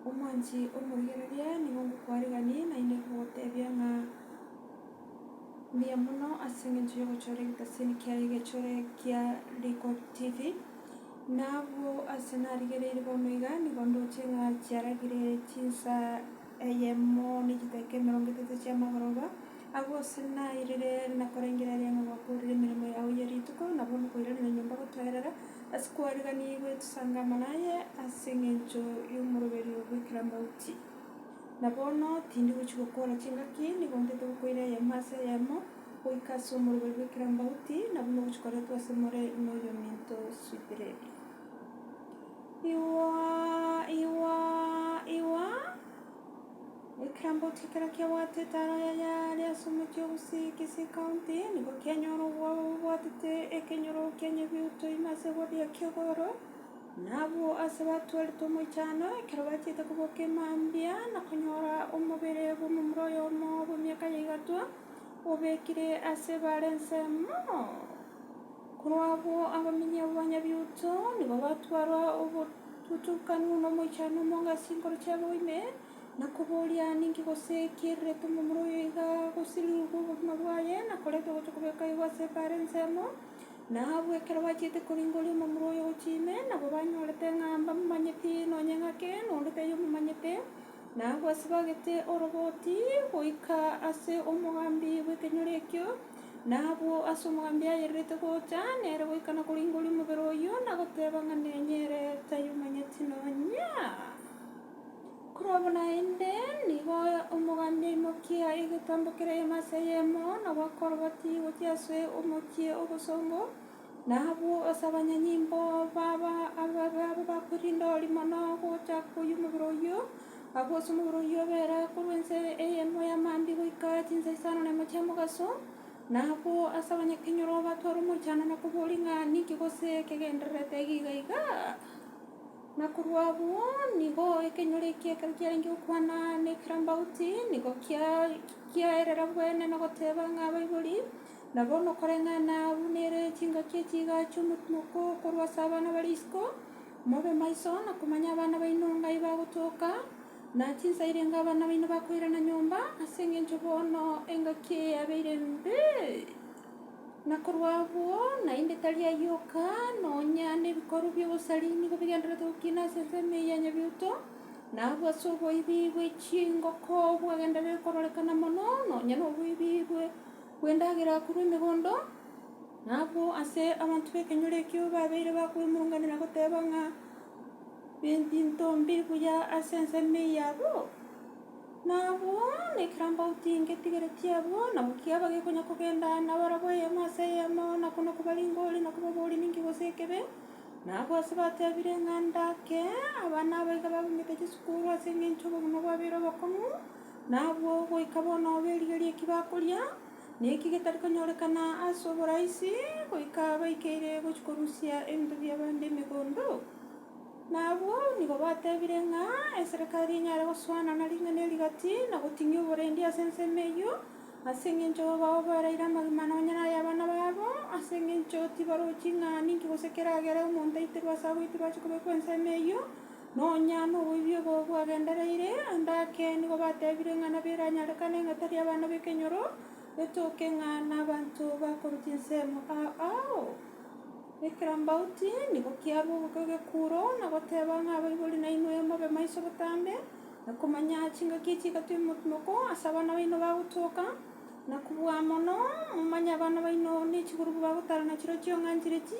Omwanchi omorigereria nigo ngokwariganie, naende nkogotebia ng'a mbuya mono ase engencho y'ogochora egetasiini kiaye egechore kia Rico TV. Na abwo ase narigereiri bono iga nigo ndoche ng'a chiaragire chinsa eyemo ne chidakika emerongo etato chi'amagoroba, Agwo ase nairire na korengereria ng'a gwakoorire emeremo yao ye rituko, nabo nokoiraneria nyomba gotoeerera, ase kwariganiigwe tosangama naye ase engencho y'omoroberi o goikera mauti. Na bono tindi gochia gokoora chingaki, nigo ntete gokoira eyemo ase eyemo, goika ase omoroberi goikera mauti, na buna gochikoretwe ase more noyominto Swithredi. Igwa, igwa, igwa. Ekitambo ki ekero kiabwate etara yaye aria ase omochie o Gusii, Kisii County, nigo kianyora obwabu bobwatete ekenyoro kia nyebiuto ime ase ebori ekia igoro, na abwo aase batweretwe omoichano ekero bachiete koboka emambia na konyora omobere bw'omomura oyomo bw'emiaka ya igatwa, obekire aase bare ensemo. Korwa abwo abaminye b'Abanyabioto nigo batwarwa obotutukanu nomoichano omonge ase chinkoro chiabo ime, na koboria, Ninki gose ki riretwe omomura oyo iga agosiririgwe obogima bwaye, na koretwa gochia kobekwa igwa ase ebaare ensemo? Na abwo ekero bachiete koringoria omomura oyo gochia ime, nabo banyorete ng'a mbamomanyeti nonye ng'ake, na onde taiyo omomanyete, na abwo ase bagete oroboti goika ase omogambi bw'ekenyoro ekio, Na abwo ase omogambia ayererete gocha nere goikana koringoria omobere oyio na goteba ng'a nenye ere tayomanyeti nonya. Korwabwo naende, nigo omogambia aimokia egetambo kereyemo ase eyemo, na gwakoroboti gochia ase omochie obosongo, Na abwo ase abanyanyimbo baba ababe abwo bakorinda oria mono gocha koyia omobere oyio, abwo ase omobere oyio obera korwa ense eyemo ya Maambi goika chinsa isano na emo chia mogaso, na abwo ase abanyakenyoro batware omochandano na koboria ng'a ninki gose kegendererete iga iga iga, na korwa abwo nigo ekenyoro ekio ekero kiarenge gokwana na ekerambauti nigo kia kiaerera bwene na goteba ng'a abaibori. Na bono koreng'ana abwo nere chingaki echi igacha omotuko korwa ase abana bare isiko, mobe maiso na komanya abana baino ng'ai bagotoka, na chinsa irenge abana baino bakoirana nyomba, ase engencho bono engaki eye yabeire embe, na korwa abwo naende tari ayoka, nonya nebikorwa bi'obosari nigo bigendererete gokina ase ensemo eye ya Nyabiuto, na abwo ase oboibi bwe chingoko bwagendererete kororekana mono, nonya noboibi bwe. bw'endagera korwa emegondo, na abwo ase abanto b'ekenyoro ekio babeire bakwemurunganera goteba ng'a nenchinto mbe buya ase ensemo eye yabo, na abwo nekerambauti ngetigere chiabo, nabo kiaba gekonya kogenda nabarabwo eyemo ase eyemo, na kono koba ringori, na koba obori ninki gose ekebe. Na abwo ase batebire ng'a ndake abana abaiga babung'ete chisukuru ase engencho obogima bwabeire obokong'u. Na abwo goika bono berigerie ki bakoria, na eki getari konyorekana ase oboraisi, goika baikeire gochia korusia ebinto bi'abande emegondo. Na abwo nigo batebire ng'a eserekari enyare gosoana na ring'ana eri rigati, na goting'ia oborendi ase ensemo eyio, ase engencho bao baraire amagima nonya nay'abana babo, ase engencho tibarochi ng'a ninki gose keragere omonto aiterwe ase agoitirwa ache kobekwa ensemo eyio. Nonya noboibi obo bwagendereire ande ake nigo batebire ng'a nabio eranyarekane ng'a tari abana b'ekenyoro, betoke ng'a nabanto bakorwa chinsemo ao ao. Ekirambauti nigo kiarwa ogoka egekuro na goteba ng'a abaibori nainwe mobe maiso botambe, na komanya chingaki echi chigatwa emokumoko ase abana baino bagotoka, na kobua mono momanye abana baino ne chigurubu bagotarana chirochio ng'a nchire chi.